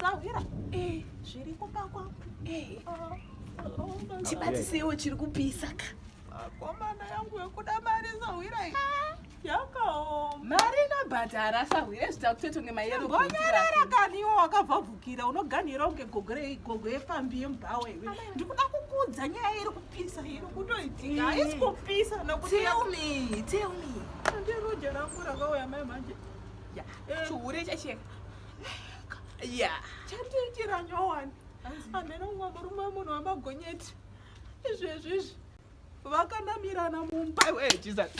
Sahwira. Eh, zviri kumba kwangu. Eh. Chibatisewo chiri kupisa ka. Makomana yangu yokuda mari sahwira iyi. Ah. Yakaoma. Mari inobhadhara sahwira zvita kutoto ngemayero. Ngonyarara kani iwo wakavavukira unoganhira unge gogo gogo yepfambi yemubhawa iwe. Ndikuda kukudza nyaya iri kupisa iri kutoitika. Haisi kupisa nokuti. Tell me, tell me. Ndiruja rangu rakauya mai manje. chihure chacheka ya chandiitira nyowani hameno mumwe murume wemunhu wamagonyeti izvezvi izvi vakanamirana mumba iwe jesus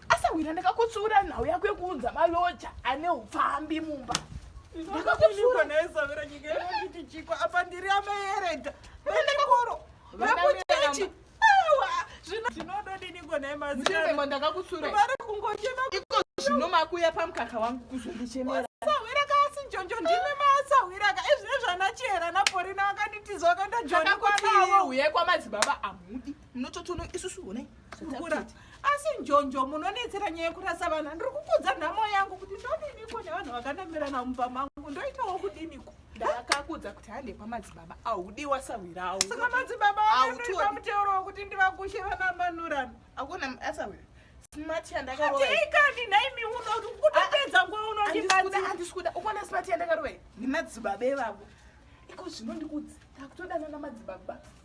asawira ndakakutsura nhau yako yekuunza maloja ane upfambi mumba ndakakutsura naye savira nyika yekuti chiko apa ndiri amaerega vechikoro vekuchechi zvino makuya pamukaka wangu kuzondichemera choncho ndimi masahwiraka ezvine zvanachera naporina vakanditiza vakandajonakwauye kwamadzibaba amudi munototono isusu one kukura asi njonjo munonetsera nyaya yekurasa vana ndiri kukudza nhamo yangu kuti ndodiniko nevanhu vakandamirana mumba mangu ndoitawo kudiniko ndakakudza kuti hande kwamadzibaba audi wasahwirawo saka madzibaba autiwa mutero wekuti ndivagushe vana manurano akuna asahwira smart yandakarowa ikani naimi unoti kutopedza ah, nguva unondibazi handisi kuda ukuona smart yandakarowa nemadzibaba evavo iko zvino ndikudzi takutodanana madzibaba